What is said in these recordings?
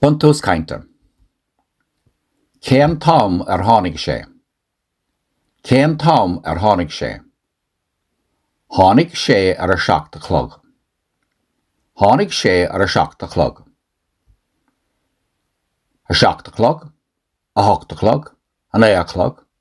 Buntús Cainte Cén t-am ar tháinig sé? Cén t-am ar tháinig sé? Tháinig sé ar a seacht a chlog. Tháinig sé ar a seacht a chlog. A seacht a chlog, a hocht a chlog, a naoi a chlog,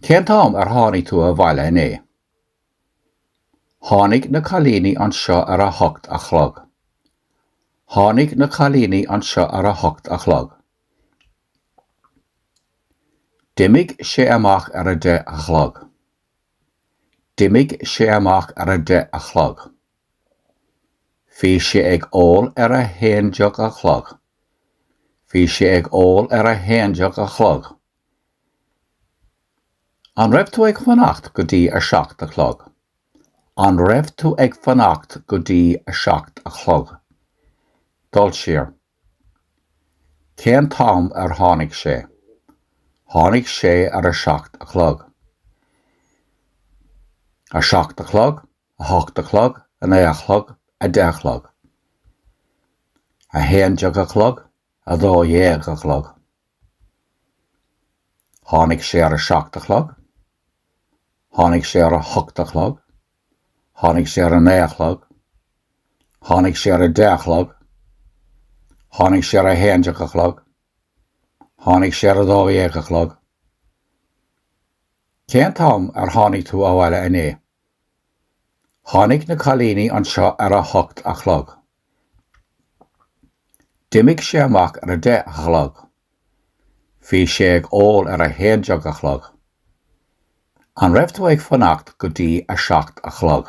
Cén t-am ar tháinig tú abhaile inné? Tháinig na cailíní anseo ar a hocht a chlog. Tháinig na cailíní anseo ar a hocht a chlog. D'imigh sé amach ar a deich a chlog. D'imigh sé amach ar a deich a chlog. Bhí sé ag ól ar a haon déag a chlog. Bhí sé ag ól ar a haon déag a chlog. An raibh tú ag fanacht go dtí a seacht a chlog? An raibh tú ag fanacht go dtí a seacht a chlog? Dul siar. Cén t-am ar tháinig sé? Tháinig sé ar a seacht a chlog. A seacht a chlog, a hocht a chlog, a naoi a chlog, a deich a chlog. A haon déag a chlog, a dó dhéag a chlog. Tháinig sé ar a seacht a chlog, tháinig sé ar a hocht a chlog, tháinig sé ar a naoi a chlog, tháinig sé ar a deich a chlog, tháinig sé ar a haon déag a chlog, tháinig sé ar a dó dhéag a chlog. Cén t-am ar tháinig tú abhaile inné? Tháinig na cailíní anseo ar a hocht a chlog. D'imigh sé amach ar a deich a chlog. Bhí sé ag ól ar a haon déag a chlog. An raibh tú ag fanacht go dtí a seacht a chlog?